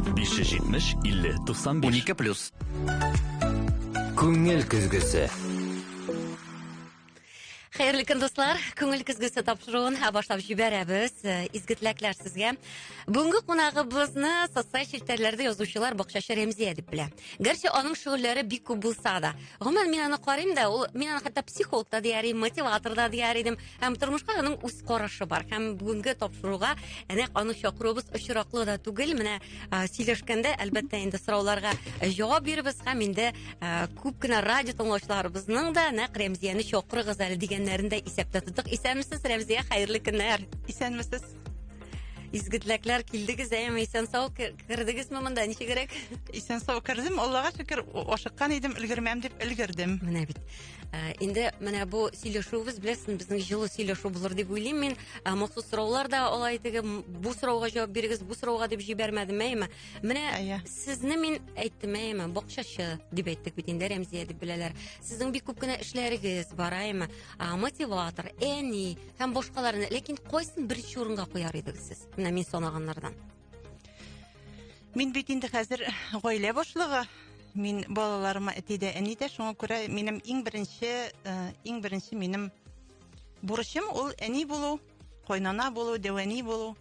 570 50 95 12 плюс. Күңел көзгесе. Хәерле көн дуслар. Күңел көзгесе тапшыруын һә башлап җибәрәбез. Э, изге теләкләр сезгә. Бүгенге кунагыбызны социаль челтәрләрдә язучылар бакчачы Рәмзия дип белә. Гәрчә аның шөгыльләре бик күп булса да. Гомумән мин аны карыйм да, ул мин аны хәтта психолог та дияр идем, мотиватор да дияр идем. Һәм тормышка аның үз карашы бар. Һәм бүгенге тапшыруга әнә аны чакыруыбыз очраклы да түгел. Менә сөйләшкәндә, әлбәттә, инде сорауларга җавап бирбез һәм инде күп кенә радио тыңлаучыларыбызның да нәкъ Рәмзияне чакырыгыз әле дигәннәрен дә исәптә тоттык. Исәнмесез, Рәмзия, хәерле көннәр. Исәнмесез. Изге теләкләр килдегез, әйеме, исән сау кердегезме монда, ничегрәк? Исән сау кердем, Аллага шөкер, ашыккан идем, өлгермәм дип өлгердем. Менә бит. Ә, инде менә бу сөйләшүебез беләсең безнең җылы сөйләшү булыр дип уйлыйм мин ә, махсус сораулар да алай теге бу сорауга җавап бирегез бу сорауга дип җибәрмәдем әйеме менә әйе сезне мин әйттем әйеме бакчачы дип әйттек бит инде рәмзия дип беләләр сезнең бик күп кенә эшләрегез бар әйеме ә, мотиватор әни һәм башкаларны ләкин кайсын беренче урынга куяр идегез сез менә мин санаганнардан Мин бит инде хәзер гаилә башлыгы. Мин балаларыма әти дә, әни дә, шуңа күрә минем иң беренче, э, иң беренче минем бурычым ул әни булу, кайнана булу, дәвәни булу.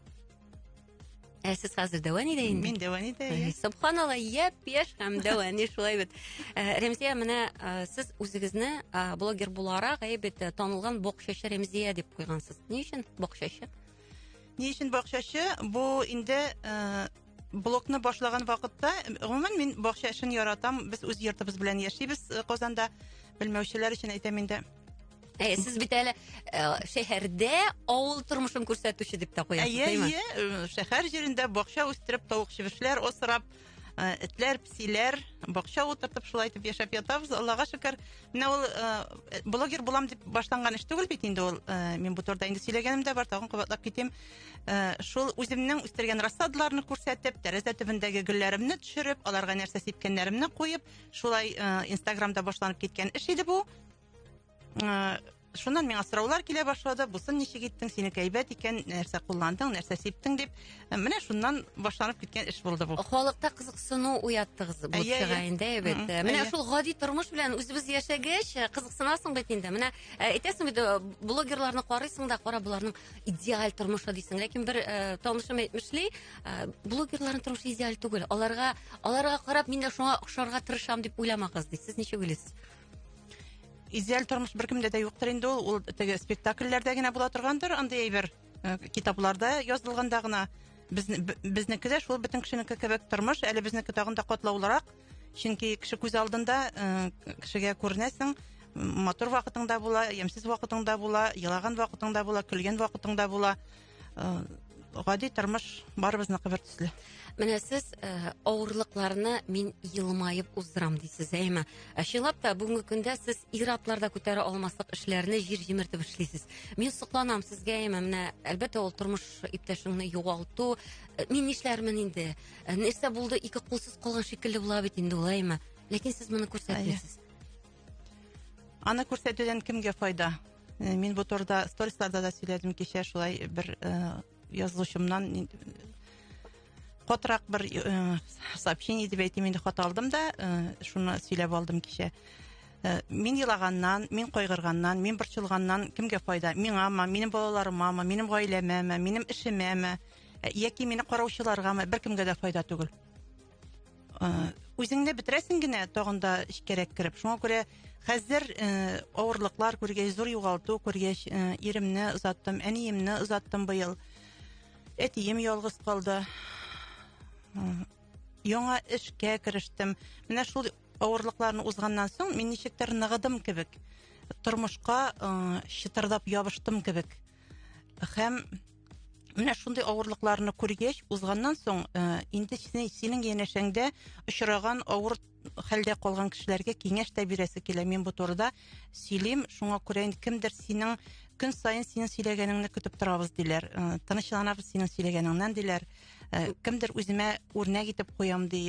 Ә сез хәзер дәвә нидә инде? Мин дәвә нидә. Субханалла, яп яшь һәм дәвә ни шулай бит. Э, Рәмзия, менә э, сез үзегезне э, блогер буларак әйбәт танылган боксчы Рәмзия дип куйгансыз. Ни өчен боксчы? Ни өчен бакчачы? Бу инде э, блокны башлаган вакытта, гомумән мин бакча эшен яратам. Без үз йортыбыз белән яшибез э, Казанда. Белмәүчеләр өчен әйтәм инде. Ә, сез бит әле э, шәһәрдә авыл тормышын күрсәтүче дип тә куясыз, Әйе, әйе, э, шәһәр җирендә бакча үстереп, тавык чебешләр асрап, Э, этләр, псиләр, бакча утыртып шулай итеп яшәп ятабыз. Аллага шөкер. Менә ул э, блогер булам дип башланган эш түгел бит инде ул. Э, мин бу турыда инде сөйләгәнем дә бар, тагын кабатлап китим. Шул үземнең үстергән рассадаларны күрсәтеп, тәрәзә төбендәге гөлләремне төшереп, аларга нәрсә сипкәннәремне куеп, шулай Инстаграмда башланып киткән эш иде бу. шуннан миңа сораулар килә башлады бусын ничек иттең синеке әйбәт икән нәрсә кулландың нәрсә сиптең дип менә шуннан башланып киткән эш булды бу халыкта кызыксыну уяттыгыз бу чыга инде бит менә шул гади тормыш белән үзебез яшәгәч э, кызыксынасың бит инде менә э, әйтәсең бит э, блогерларны карыйсың да кара боларның идеаль тормышы дисең ләкин бер танышым әйтмешли блогерларның тормышы идеаль түгел аларга аларга карап мин дә шуңа охшарга тырышам дип уйламагыз ди сез ничек уйлыйсыз идеаль тормыш беркемдә дә юктыр инде ул ул теге спектакльләрдә генә була торгандыр андый әйбер э, китапларда язылганда гына без безнеке дә шул бөтен кешенеке кебек тормыш әле безнеке тагын да катлаулырак чөнки кеше күз алдында э, кешегә күренәсең матур вакытың да була ямьсез вакытың да була елаган вакытың да була көлгән вакытың да була э, гади тормыш барыбызныкы бер төсле менә сез э, авырлыкларны мин елмаеп уздырам дисез әйме ә чынлап та бүгенге көндә сез ир атлар да күтәрә алмаслык эшләрне җир җимертеп эшлисез мин сокланам сезгә әйме менә әлбәттә ул тормыш иптәшеңне югалту э, мин нишләрмен инде э, нәрсә булды ике кулсыз калган шикелле була бит инде ул әйме ләкин сез моны күрсәтмисез аны күрсәтүдән кемгә файда Э, мин бу турыда сторисларда да сөйләдем кичә шулай бер э, язылучымнан э, катырак бер сообщение дип әйтим инде хат алдым да шуны сөйләп алдым кичә мин елаганнан мин кайгырганнан мин борчылганнан кемгә файда миңамы минем балаларымамы минем гаиләмәме минем эшемәме яки мине караучыларгамы беркемгә дә файда түгел үзеңне бетерәсең генә тагын да эчкәрәк кереп шуңа күрә хәзер ә, авырлыклар күргәч зур югалту күргәч ә, иремне озаттым әниемне озаттым быел әтием ялгыз калды яңа эшкә керештем менә шул авырлыкларны узганнан соң мин ничектер ныгыдым кебек тормышка ә, чытырдап ябыштым кебек һәм менә шундый авырлыкларны күргәч узганнан соң э, инде синең янәшәңдә очраган авыр хәлдә калган кешеләргә киңәш тә бирәсе килә мин бу турыда сөйлим шуңа күрә инде кемдер синең көн саен синең сөйләгәнеңне көтеп торабыз диләр э, тынычланабыз синең сөйләгәнеңнән диләр э, кемдер үземә үрнәк итеп куям ди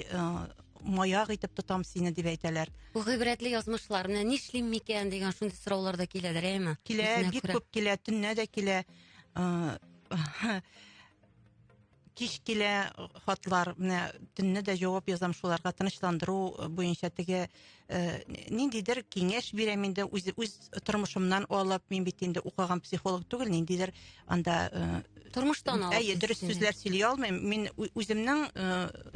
маяк итеп тотам сине дип әйтәләр бу гыйбрәтле язмышлар менә нишлим микән дигән шундый сораулар да киләдер әйме килә бик күп килә төнлә дә килә кич килә хатлар менә төнне дә җавап язам шуларга тынычландыру буенча теге ниндидер киңәш бирәм инде үз үз тормышымнан алып мин бит инде укыган психолог түгел ниндидер анда тормыштан алып әйе дөрес сүзләр сөйли алмыйм мин үземнең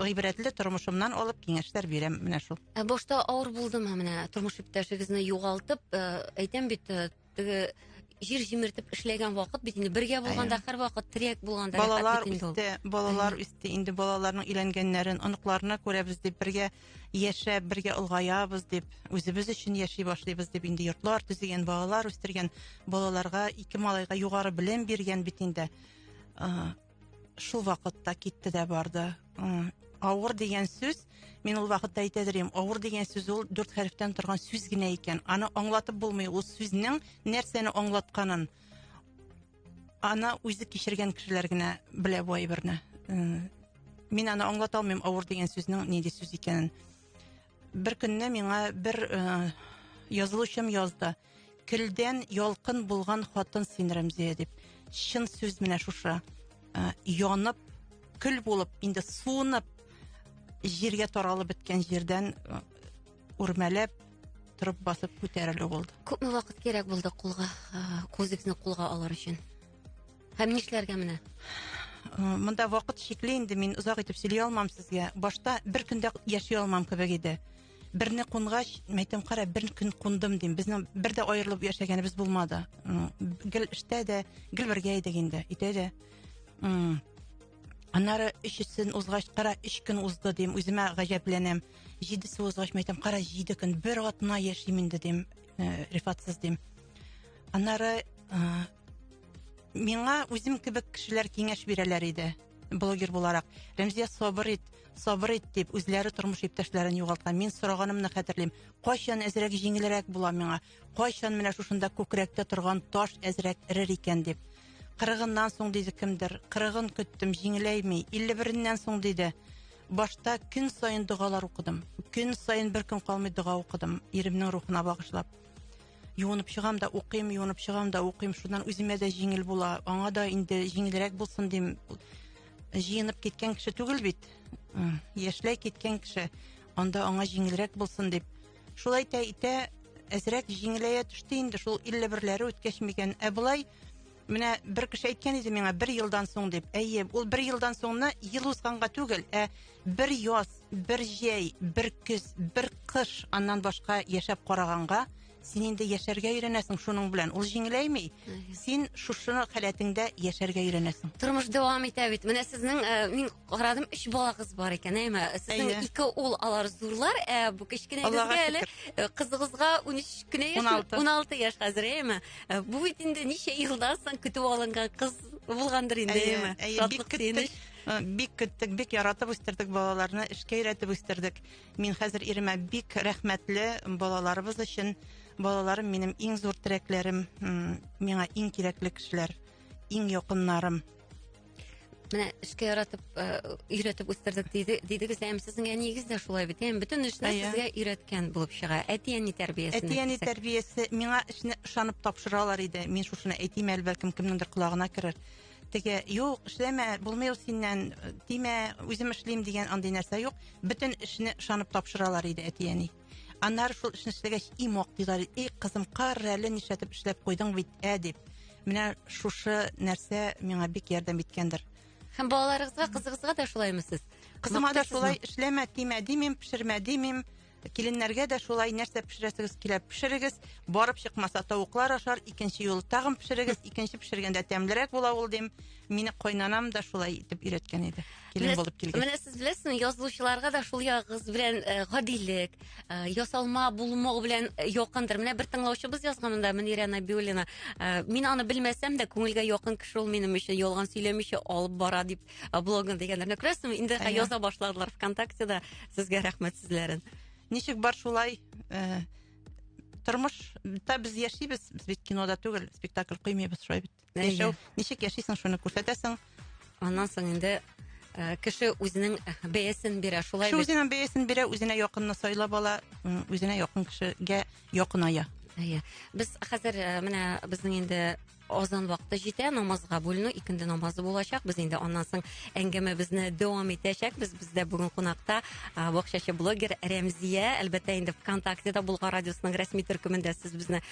гыйбрәтле тормышымнан алып киңәшләр бирәм менә шул ә башта авыр булдымы менә тормыш иптәшегезне югалтып әйтәм бит Теге җир җимертеп эшләгән вакыт бит инде бергә булганда һәрвакыт терәк булганда балалар үсте балалар үсте инде балаларның өйләнгәннәрен оныкларына күрәбез дип бергә яшәп бергә олгаябыз дип үзебез өчен яши башлыйбыз дип инде йортлар төзегән балалар үстергән балаларга ике малайга югары белем биргән бит инде Шул вакытта китте дә барды. Авыр дигән сүз, мин ул вакытта әйтә дөрим, авыр дигән сүз ул дүрт хәрефтән торган сүз генә икән. Аны аңлатып булмый, ул сүзнең нәрсәне аңлатканын. Аны үзе кичергән кешеләр генә белә бу әйберне. Мин аны аңлата алмыйм, авыр дигән сүзнең нинди сүз икәнен. Бер көнне миңа бер язылучым язды. Келдән ялкын булган хатын син, Рәмзия, дип. Чын сүз менә шушы. Янып, көл булып, инде суынып, җиргә таралып беткән җирдән үрмәләп, торып басып күтәрелү булды. Күпме вакыт кирәк булды кулга, үзегезне кулга алыр өчен? Һәм нишләргә менә? Э, монда вакыт чикле инде мин озак итеп сөйли алмам сезгә башта бер көндә яши алмам кебек иде берне кунгач мен әйтәм кара бер көн кундым дим безнең бер дә аерылып яшәгәнебез булмады э, гел эштә дә гел бергә идек инде өйдә дә э, аннары өчесен узгач кара өч көн узды дим үземә гаҗәпләнәм җидесе узгач мен әйтәм кара җиде көн бер атна яшим инде дим рифатсыз дим аннары миңа үзем кебек кешеләр киңәш бирәләр иде блогер буларак рәмзия сабыр ит сабыр ит дип үзләре тормыш иптәшләрен югалткан мин сораганымны хәтерлим кайчан әзрәк җиңелрәк була миңа кайчан менә шушында күкрәктә торган таш әзрәк эрер икән дип кырыгыннан соң диде кемдер кырыгын көттем җиңеләйми илле береннән соң диде башта көн саен догалар укыдым көн саен бер көн калмый дога укыдым иремнең рухына багышлап Юынып чыгам да укыйм, юынып чыгам да укыйм. Шуннан үземә дә җиңел була. Аңа да инде җиңелрәк булсын дим. Җыенып киткән кеше түгел бит. Яшьләй киткән кеше. Анда аңа җиңелрәк булсын дип. Шулай итә итә әзрәк җиңеләя төште инде шул 51 ләре үткәч микән. Ә болай Менә бер кеше әйткән иде миңа бер елдан соң дип. Әйе, ул бер елдан соңны ел узганга түгел, ә бер яз, бер җәй, бер көз, бер кыш аннан башка яшәп караганга, син инде яшәргә өйрәнәсең шуның белән. Ул җиңеләйми. Син шушы халәтеңдә яшәргә өйрәнәсең. Тормыш дәвам итә бит. Менә сезнең э, мин Карадым, өч балагыз бар икән, әйме? Сезнең Әйе. ике ул, алар зурлар, ә бу Аллага кечкенәгезгә әле э, кызыгызга 13 кенә яшь, 16. 16 яшь хәзер, әйме? Э, Бу бит инде ничә елдан соң көтеп алынган кыз булгандыр инде, Әйе, әйме? әйе, бик Шатлык, көттек. сөенеч. Э, Бик көттек, бик яратып үстердек балаларны, эшкә өйрәтеп үстердек. Мин хәзер иремә бик рәхмәтле балаларыбыз өчен. Балаларым минем иң зур терәкләрем, м, миңа иң кирәкле кешеләр, иң якыннарым. менә эшкә яратып өйрәтеп үстердек диде дидегез әм сезнең әниегез дә шулай бит әм бөтен эшне сезгә өйрәткән булып чыга әти әни тәрбиясе әти әни тәрбиясе миңа эшне ышанып тапшыралар иде мин шушыны әйтим әле бәлкем кемнеңдер колагына керер теге юк эшләмә булмый ул синнән тимә үзем эшлим дигән андый нәрсә юк бөтен эшне ышанып тапшыралар иде әти әни Аннары шул эшне эшләгәч, и мак диләр, и кызым, кар әле нишләтеп эшләп куйдың бит, ә дип. Менә шушы нәрсә миңа бик ярдәм иткәндер. Һәм балаларыгызга, кызыгызга да шулаймы сез? Кызыма да шулай эшләмә, тимә димим, пешермә димим. Киленнәргә дә шулай нәрсә пешерәсегез килә, пешерегез. Барып чыкмаса тавыклар ашар, икенче юл тагын пешерегез, икенче пешергәндә тәмлерәк була ул дим. Мине кайнанам да шулай итеп өйрәткән иде. килен Беләс- булып килгән. Менә сез беләсезме, язылучыларга да шул ягыгыз белән э, гадилек, э, ясалма булмау белән э, якындыр. Менә бер тыңлаучыбыз язган монда, Мөнирә Набиуллина. Э, Мин аны белмәсәм дә, күңелгә якын кеше ул минем өчен ялган сөйләмичә алып бара дип э, блогын дигәннәр. Менә Күрәсезме, инде Әйе. яза башладылар ВКонтактеда сезгә рәхмәт сүзләрен. Ничек бар шулай э, тормышта без яшибез, без бит кинода түгел, спектакль куймыйбыз шулай бит. Яшәү, ничек яшисең, шуны күрсәтәсең. Аннан соң инде э, кеше үзенең бәясен бирә, шулай Кеше үзенең бәясен бирә, үзенә якынны сайлап ала, үзенә якын кешегә якыная. Әйе. Без хәзер э, менә безнең инде азан вакыты җитә, намазга бүленү, икенде намазы булачак. Без инде аннан соң әңгәмәбезне дәвам итәчәкбез. Бездә бүген кунакта бакчачы блогер Рәмзия, әлбәттә инде ВКонтактеда Болгар радиосының рәсми төркемендә сез безне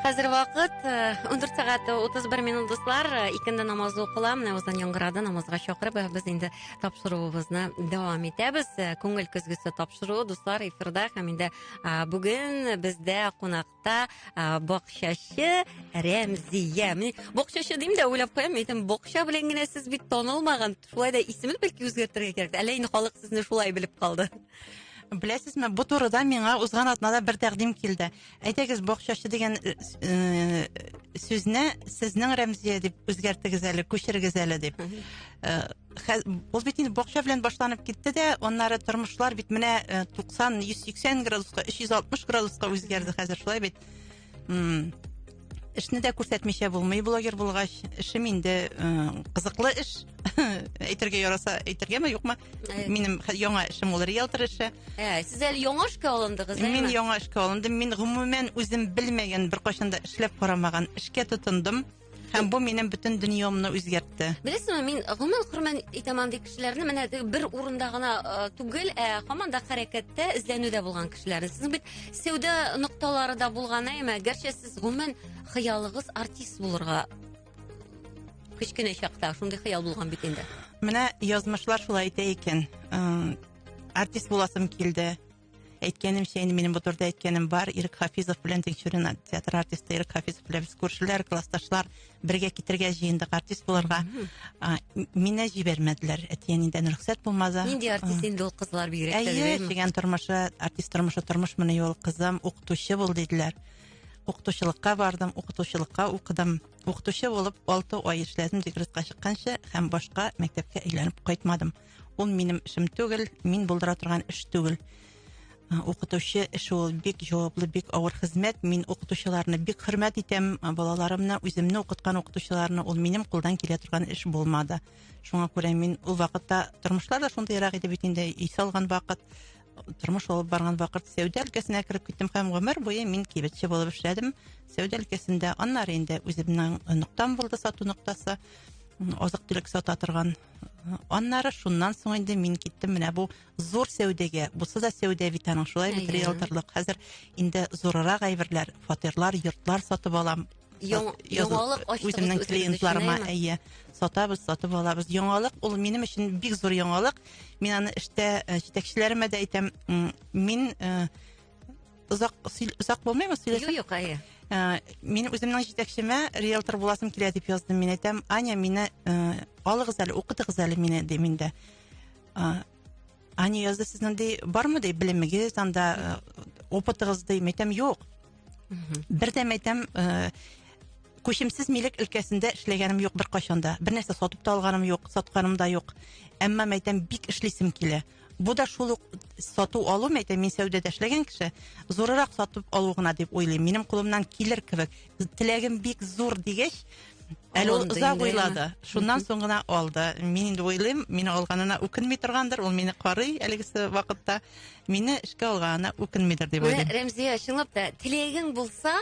Хәзер вакыт 14 э, сәгать 31 минут дуслар. Э, икенде намазы укыла. Менә уздан яңгырады намазга чакырып. Э, без инде тапшыруыбызны дәвам итәбез. Күңел көзгесе тапшыруы дуслар эфирда һәм инде бүген бездә кунакта бакчачы Рәмзия. Мин бакчачы дим дә уйлап куям. Әйтәм, бакча белән генә сез бит танылмаган. Шулай да исемне бәлки үзгәртергә кирәк. Әллә инде халык сезне шулай белеп калды. Беләсезме, бу турыда миңа узган атнада бер тәкъдим килде. Әйдәгез, бакчачы дигән э, э, сүзне сезнең Рәмзия дип үзгәртегез әле, күчерегез әле дип. Э, ул бит инде бакча белән башланып китте дә, аннары тормышлар бит менә 90-180 градуска, 360 градуска үзгәрде хәзер шулай бит. эшне дә күрсәтмичә булмый блогер булгач эшем инде кызыклы эш әйтергә яраса әйтергәме юкмы э. минем яңа эшем ул риэлтор эше э, сез әле яңа эшкә алындыгыз мин яңа эшкә алындым мин гомумән үзем белмәгән беркайчан да эшләп карамаган эшкә тотындым һәм бу минем бөтен дөньямны үзгәртте беләсеңме мин гомумән хөрмән итәм андый кешеләрне менә бер урында гына э, түгел ә һаман да хәрәкәттә эзләнүдә булган кешеләрне сез бит Сәүдә нокталары да булган әйме, гәрчә сез гомумән хыялыгыз артист булырга кечкенә чакта шундый хыял булган бит инде. Менә язмышлар шулай әйтә икән. Артист буласым килде. Әйткәнемчә, инде минем бу турыда әйткәнем бар. Ирек Хафизов белән Тикшерен театр артисты Ирек Хафизов белән без күршеләр, классташлар. бергә китергә җыендык артист булырга мине җибәрмәделәр әти әнидән рөхсәт булмады нинди артист инде ул кызлар бигрәк әйе җигән тормышы артист тормышы тормышмыни ул кызым укытучы бул диделәр укытучылыкка бардым укытучылыкка укыдым укытучы булып алты ай эшләдем декретка чыкканчы һәм башка мәктәпкә әйләнеп кайтмадым ул минем эшем түгел мин булдыра торган эш түгел Укытучы эше ул бик җаваплы, бик авыр хезмәт. Мин укытучыларны бик хөрмәт итәм. Балаларымны, үземне укыткан укытучыларны ул минем кулдан килә торган эш булмады. Шуңа күрә мин ул вакытта тормышлар да шундыйрак иде бит инде, өй салган вакыт, тормыш алып барган вакыт сәүдә өлкәсенә кереп киттем һәм гомер буе мин кибетче булып эшләдем. Сәүдә өлкәсендә, аннары инде үземнең ноктам булды сату ноктасы азык-төлек сата торган. Аннары шуннан соң инде мин киттем менә бу зур сәүдәгә булса да сәүдә бит аның шулай бит риэлторлык хәзер инде зурырак әйберләр фатирлар йортлар сатып алам яңалык үземнең клиентларыма әйе сатабыз сатып алабыз яңалык ул минем өчен бик зур яңалык мин аны эштә э, җитәкчеләремә дә әйтәм мин э, озак озак булмыймы сөйләсәм юк әйе э, мин үземнең җитәкчемә риэлтор буласым килә дип яздым мин әйтәм аня мине алыгыз әле укытыгыз әле мине дим инде А, Ани язды сезнең ди бармы ди белемегез анда э, опытыгыз ди мәйтәм юк. Бер дә мәйтәм э, күчемсез милек өлкәсендә эшләгәнем юк бер кайчанда. Бер нәрсә сатып та алганым юк, сатканым да юк. Әмма мәйтәм бик эшлисем килә. Бу да шул ук сату алу мәйтәм мин сәүдәдә эшләгән кеше, зурырак сатып алу гына дип уйлыйм. Минем кулымнан килер кебек. теләгем бик зур дигәч, Әле ул озак уйлады. Шуннан соң гына алды. Мин инде уйлыйм, мине алганына үкенми торгандыр, ул мине карый әлегесе вакытта. Мине эшкә алганына үкенмидер дип уйлыйм. Рәмзия, чынлап та, теләгең булса,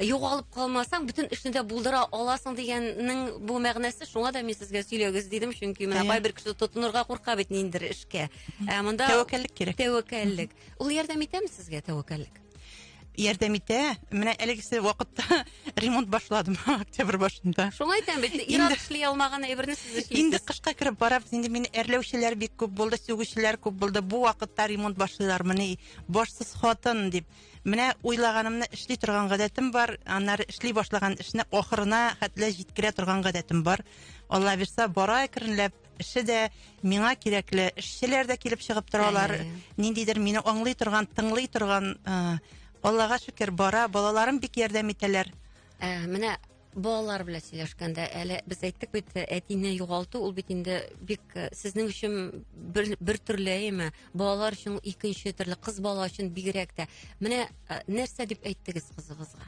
югалып калмасаң, бөтен эшне дә булдыра аласың дигәннең бу мәгънәсе, шуңа да мин сезгә сөйләгез дидем, чөнки менә кайбер кеше тотынырга курка бит ниндер эшкә. Ә монда тәвәккәллек кирәк. Тәвәккәллек. Ул ярдәм итәме сезгә тәвәккәллек? ярдәм итә. Менә әлегесе вакытта ремонт башладым октябрь башында. Шуңа әйтәм бит, ир-ат эшли алмаган әйберне сез эшлисез. Инде кышка кереп барабыз, инде мине әрләүчеләр бик күп булды, сүгүчеләр күп булды. Бу вакытта ремонт башлыйлар, менә башсыз хатын дип. Менә уйлаганымны эшли торган гадәтем бар, аннары эшли башлаган эшне ахырына хәтле җиткерә торган гадәтем бар. Алла бирса, бара әкренләп эше дә, миңа кирәкле эшчеләр дә килеп чыгып торалар. Ә, Ниндидер мине аңлый торган, тыңлый торган, ә, Аллага шөкер, бара, балаларым бик ярдәм итәләр. Ә, менә балалар белән сөйләшкәндә әле без әйттек бит э, әтине югалту ул бит инде бик э, сезнең өчен бер, бер төрле әйме балалар өчен икенче төрле кыз бала өчен бигрәк тә менә э, нәрсә дип әйттегез кызыгызга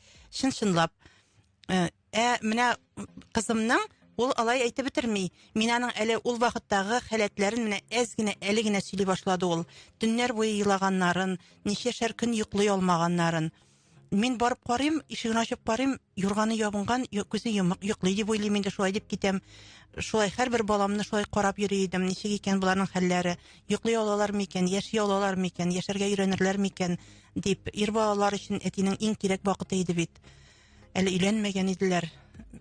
Чын-чынлап. Э, ә менә кызымның ул алай әйтеп бетерми. Мин аның әле ул вакыттагы халәтләрен менә әз генә, әле генә сөйли башлады ул. Төннәр буе елаганнарын, ничәшәр көн йоклый алмаганнарын. Мин барып карыйм, ишеген ачып карыйм, юрганы ябынган, күзе йомык, йоклый дип уйлыйм инде, шулай дип китәм. Шулай һәрбер баламны шулай карап йөри идем, ничек икән боларның хәлләре, йоклый алалар микән, яши алалар микән, яшәргә өйрәнерләр микән, Дип, ир балалар өчен әтинең иң кирәк вакыты иде бит. Әле өйләнмәгән иделәр.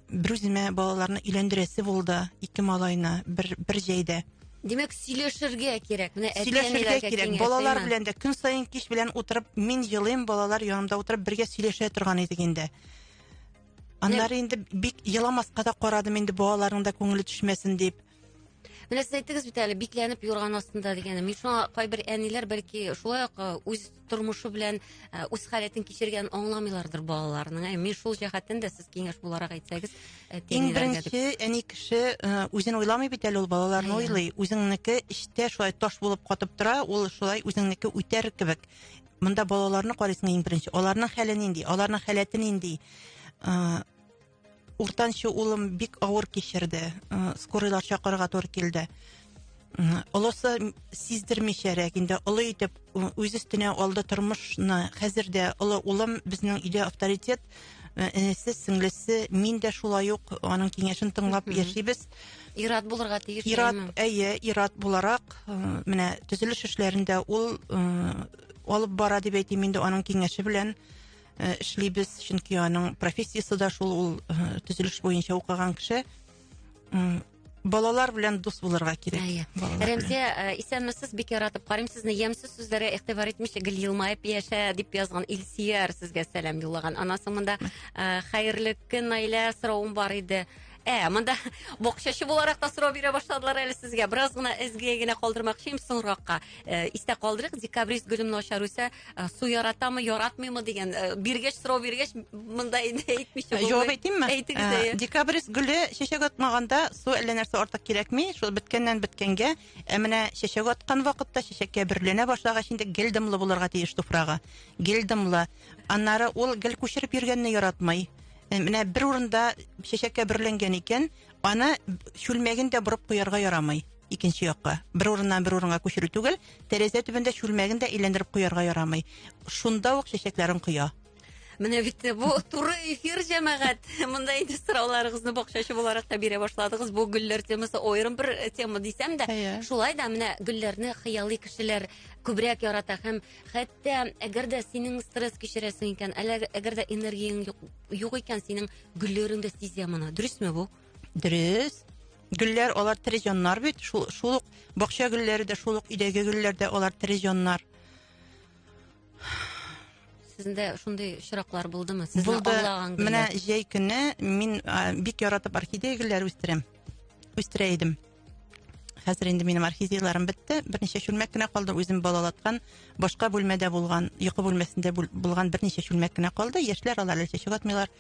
Бер үземә балаларны өйләндерәсе булды, ике малайны бер бер җәйдә. Димәк, сөйләшергә кирәк. Менә әти-әниләргә кирәк. Балалар белән дә көн саен кич белән утырып, мин елыйм, балалар янымда утырып бергә сөйләшә торган идек инде. Аннары инде бик еламаска да карадым инде балаларның да күңеле төшмәсен дип. Менә сез әйттегез бит әле бикләнеп юрган астында дигәнне. Мин шуңа кайбер әниләр бәлки шулай ук үз тормышы белән үз халәтен кичергән аңламыйлардыр балаларының. Ә мин шул җәһәттән дә сез киңәш буларак әйтсәгез, иң беренче әни кеше үзен уйламый бит әле ул балаларны уйлый. Үзеңнеке эчтә шулай таш булып катып тора, ул шулай үзеңнеке үтәр кебек. Монда балаларны карыйсың иң беренче. Аларның хәле нинди? Аларның халәте нинди? Уртанчы улым бик авыр кичерде. Э, скорыйлар чакырырга туры килде. Э, олысы сиздермичәрәк инде олы итеп э, үз өстенә алды тормышны. Хәзер дә олы улым безнең өйдә авторитет. Энесе, сеңлесе, мин дә шулай ук аның киңәшен тыңлап яшибез. Ират булырга тиеш. Ират, әйе, ират буларак, менә төзелеш эшләрендә ул алып бара дип әйтим инде аның киңәше белән. э, эшлибез, чөнки аның профессиясе дә шул, ул э, төзелеш буенча укыган кеше. Балалар белән дус булырга кирәк. Әйе. Рәмзия, э, исәнмесез, бик яратып карыйм сезне. Ямсыз сүзләре игътибар итмичә гел елмаеп яшә дип язган Илсияр сезгә сәлам юллаган. Анасы монда хәерле көн Наилә соравым бар иде. Ә, монда боксчы буларак та сорау бирә башладылар әле сезгә. Бераз гына эзгегә генә калдырмакчыйм соңракка. Э, истә калдырыйк, декабрист гөлемне ачар үсә, Ә, су яратамы яратмыймы дигән ә, биргәч сорау биргәч монда инде әйтмичә ә, җавап әйтимме әйтегез ә, декабрис гөле чәчәк атмаганда су әллә нәрсә артык кирәкми шул беткәннән беткәнгә ә менә чәчәк аткан вакытта чәчәккә бөрленә башлагач инде гел дымлы булырга тиеш туфрагы гел дымлы аннары ул гел күчереп йөргәнне яратмый менә бер урында чәчәккә бөрленгән икән аны чүлмәген дә борып куярга ярамый икенче якка. Бер урыннан бер урынга күчерү түгел, тәрәзә төбендә чүлмәген дә әйләндереп куярга ярамый. Шунда ук чәчәкләрен коя. Менә бит бу туры эфир җәмәгать. Монда инде сорауларыгызны бакчачы буларак та бирә башладыгыз. Бу гөлләр темасы аерым бер э, тема дисәм дә, шулай да менә гөлләрне хыялый кешеләр күбрәк ярата һәм хәтта әгәр дә синең стресс кичерәсең икән, әле әгәр дә энергияң юк икән, синең гөлләреңдә сизә моны. Дөресме бу? Дөрес. Гөлләр алар тере җаннар бит. Шул шул ук бакча гөлләре дә, шул ук өйдәге гөлләр дә алар тере җаннар. Сездә шундый очраклар булдымы? Сезне Булды. аллаган гөлләр. Менә җәй көне мин а, бик яратып орхидея гөлләре үстерәм. Үстерә идем. Хәзер инде минем орхидеяларым бетте. Берничә чүлмәк кенә калды. Үзем балалаткан, башка бүлмәдә булган, йокы бүлмәсендә булган берничә чүлмәк кенә калды. Яшьләр алар әле чәчәк атмыйлар.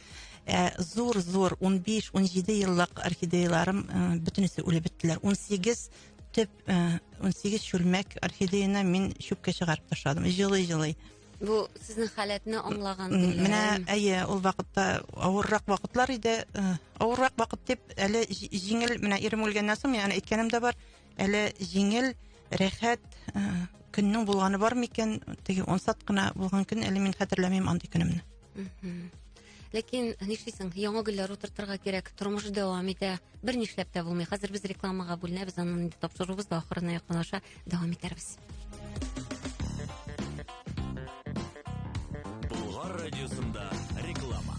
Ә зур-зур 15-17 еллык орхидеяларым э, бөтенесе үлеп беттеләр. 18 төп 18 э, чүлмәк орхидеяны мин чүпкә чыгарып ташладым. Җылый-җылый. Бу сезнең халәтне аңлаган. Менә әйе, ул вакытта авыррак вакытлар иде. Э, авыррак вакыт дип, әле җиңел, менә ирем үлгәннән соң, мин аны әйткәнем дә бар, әле җиңел, рәхәт э, көннең булганы бар микән? Теге ансат кына булган көн, әле мин хәтерләмим андый көнемне. ләкин нишлисең яңа гөлләр утыртырга кирәк тормыш дәвам итә бер нишләп тә булмый хәзер без рекламага бүленәбез анын инде тапшыруыбыз да ахырына якынлаша дәвам итәрбез Болгар радиосында реклама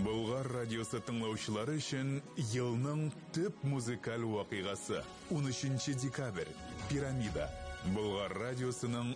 Болгар радиосы тыңлаучылары өчен елның төп музыкаль вакыйгасы 13 декабрь пирамида Болгар радиосының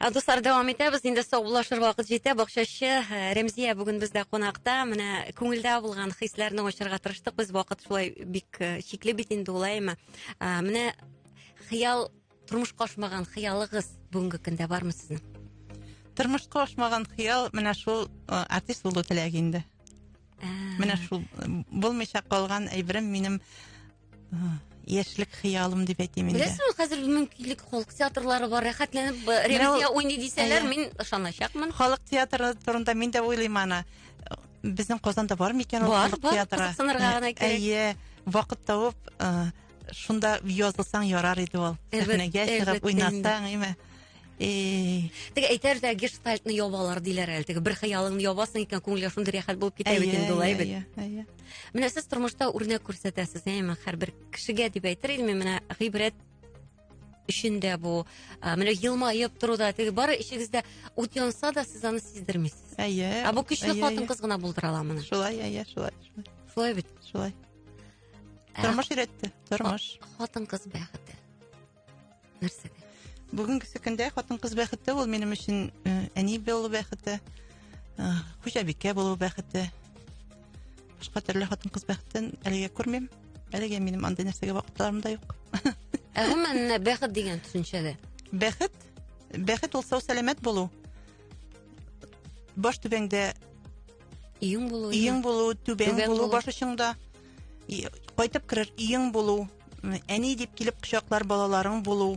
Ә дуслар дәвам итәбез. Инде саубуллашыр вакыт җитә. Бакчачы э, Рәмзия бүген бездә кунакта. Менә күңелдә булган хисләрне ачарга тырыштык. Без вакыт шулай бик э, чикле бит инде улаймы. Э, менә хыял тормышка ашмаган хыялыгыз бүгенге көндә бармы сезнең? Тормышка ашмаган хыял менә шул артист булу теләге инде. Ә. Менә шул булмыйча калган әйберем минем яшьлек хыялым дип әйтим инде беләсең ул хәзер мөмкинлек халык театрлары бар рәхәтләнеп э, ревизия уйный дисәләр мин ышаначакмын халык театры турында мин дә уйлыйм аны безнең казанда бар микән ул халык театры бар кызыксынырга гына кирәк әйе вакыт табып э, шунда язылсаң ярар иде ул сәхнәгә чыгып уйнасаң әйме теге әйтәр дә гештальтны ябалар диләр әле теге бер хыялыңны ябасың икән күңелгә шундый рәхәт булып китә бит инде ул әйбәт Менә сез тормышта үрнәк күрсәтәсез, әйме, һәрбер кешегә дип әйтер идем, менә гыйбрәт өчен дә бу, менә елмаеп тору да, теге бары эчегездә ут янса да, сез аны сиздермисез. Әйе. Ә бу көчле хатын-кыз гына булдыра ала моны. Шулай, әйе, шулай. Шулай бит. Шулай. Тормыш өйрәтте, тормыш. Хатын-кыз бәхете. нәрсәгә бүгенгесе көндә хатын кыз бәхете ул минем өчен э, әни булу бәхете э, хуҗабикә булу бәхете башка төрле хатын кыз бәхетен әлегә күрмим әлегә минем андый нәрсәгә вакытларым да юк ә гомумән бәхет дигән төшенчәдә бәхет бәхет ул сау сәламәт булу баш түбәңдә иң булу иң булу түбәң булу баш очыңда кайтып керер өең булу әни дип килеп кочаклар балаларың булу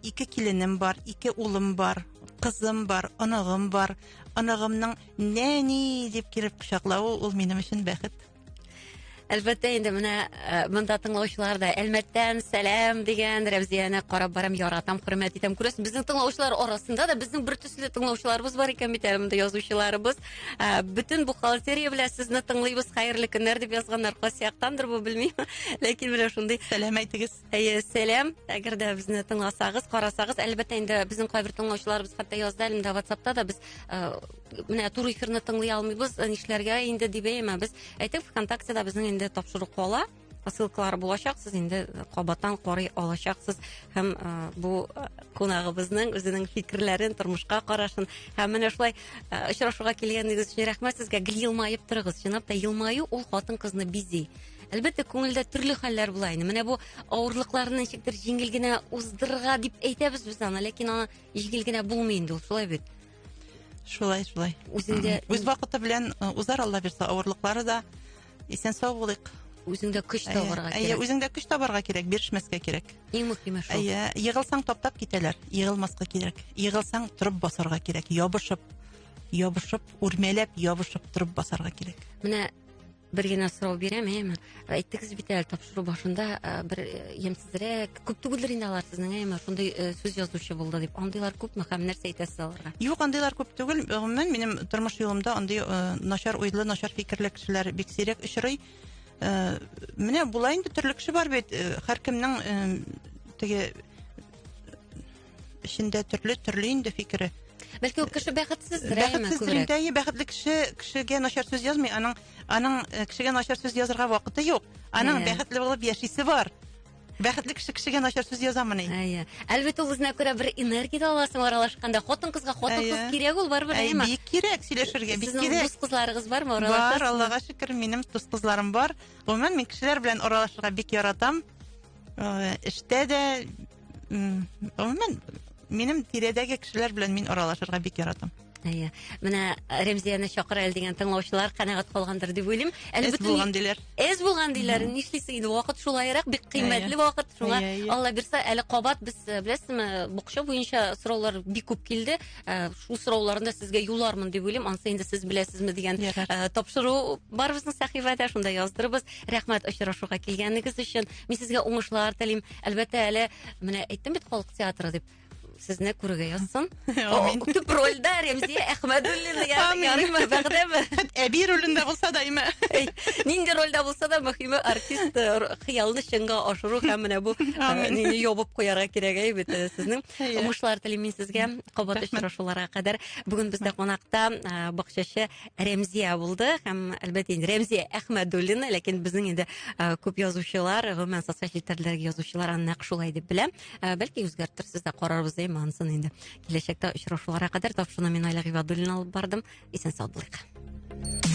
ике киленем бар ике улым бар кызым бар оныгым бар оныгымның нәни дип килеп кочаклавы ул минем өчен бәхет әлбәттә инде менә э, монда тыңлаучылар да әлмәттән сәлам дигән рәмзияне карап барам яратам хөрмәт итәм күрәсең безнең тыңлаучылар арасында да безнең бер төсле тыңлаучыларыбыз бар икән бит әле монда язучыларыбыз Ә, бөтен бухгалтерия белән сезне тыңлыйбыз хәерле көннәр дип язганнар кайсы яктандыр бу белмим ләкин менә шундый сәлам әйтегез әйе сәлам әгәр дә безне тыңласагыз карасагыз әлбәттә инде безнең кайбер тыңлаучыларыбыз хәтта язды әле инде ватсапта да без ә, менә туры эфирны тыңлый алмыйбыз нишләргә инде дип әйтәбез әйтик вконтакте да безнең инде тапшыру кала посылкалары булачак сез инде кабаттан карый алачаксыз һәм ә, бу кунагыбызның үзенең фикерләрен тормышка карашын һәм менә шулай ә, очрашуга килгәнегез өчен рәхмәт сезгә гел елмаеп торыгыз чынлап та елмаю ул хатын кызны бизи әлбәттә күңелдә төрле хәлләр була инде менә бу авырлыкларны ничектер җиңел генә уздырырга дип әйтәбез без аны ләкин аны җиңел генә булмый инде ул шулай бит шулай шулай үзеңдә үз вакыты белән узар алла бирса авырлыклары да исән сау булыйк үзеңдә көч табарга кирәк әйе үзеңдә көч табарга кирәк бирешмәскә кирәк иң мөһиме шул әйе егылсаң таптап китәләр егылмаска кирәк егылсаң торып басарга кирәк ябышып ябышып үрмәләп ябышып торып басарга кирәк менә бер генә сорау бирәм әйеме әйттегез бит әле тапшыру башында бер ямьсезрәк күп түгелдер инде алар сезнең әй ма шундый э, сүз язучы булды дип андыйлар күпме һәм нәрсә әйтәсез аларга юк андыйлар күп түгел гомумән минем тормыш юлымда андый э, начар уйлы начар фикерле кешеләр бик сирәк очрый э, менә була инде төрле кеше бар бит һәркемнең теге эчендә төрле төрле инде фикере бәлки ул кеше бәхетсездер бәхетсездер инде әйе бәхетле кеше кешегә начар сүз язмый аның аның кешегә начар сүз язырга вакыты юк аның бәхетле булып яшисе бар Бәхетле кеше кешегә начар сүз язамыни? Әйе. Әлбәттә, ул үзенә күрә бер энергия дә аласың аралашканда. Хатын-кызга хатын-кыз кирәк ул барыбер, Әйе, әйеме? бик кирәк сөйләшергә, бик Сезнең кирәк. дус кызларыгыз бармы? Бар, Аралашасызмы? Аллага шөкер, минем дус кызларым бар. Гомумән, мин кешеләр белән аралашырга бик яратам. Э, Эштә дә, м, гомумән, минем тирәдәге кешеләр белән мин аралашырга бик яратам. Әйе. Менә Рәмзияне чакыр әле дигән тыңлаучылар канәгать калгандыр дип уйлыйм. Әле Эз булган диләр. Эз булган диләр. Нишлисең инде вакыт шулайрак, бик кыйммәтле вакыт. Шуңа Алла бирсә, әле кабат без э, беләсезме, букча буенча сораулар бик күп килде. Э, шул сорауларны сезгә юлармын дип уйлыйм. Ансы инде сез беләсезме дигән э, тапшыру бар безнең сәхифәдә, шунда яздырыбыз. Рәхмәт очрашуга килгәнегез өчен. Мин сезгә уңышлар телим. Әлбәттә, әле менә әйттем бит халык театры дип. Сезне күрергә язсын. Төп рольдә Рәмзия Әхмәдуллина ярыймы, бәгъдәме? Әби ролендә булса да име. Нинди рольдә булса да мөхиме артист э, хыялны чынга ашыру һәм менә бу э, нини ябып куярга кирәк әй бит э, сезнең. Уңышлар телим мин сезгә. Кабат очрашуларга кадәр. Бүген бездә кунакта бакчачы Рәмзия булды һәм әлбәттә инде Рәмзия Әхмәдуллина, ләкин безнең инде күп язучылар, гомумән социаль челтәрләрдәге язучылар аны нәкъ шулай дип белә. Ә, бәлки үзгәртерсез дә карарбыз әйме анысын инде киләчәктә очрашуларга кадәр тапшыруны мин айла гыйбадуллина алып бардым исән сау булыйк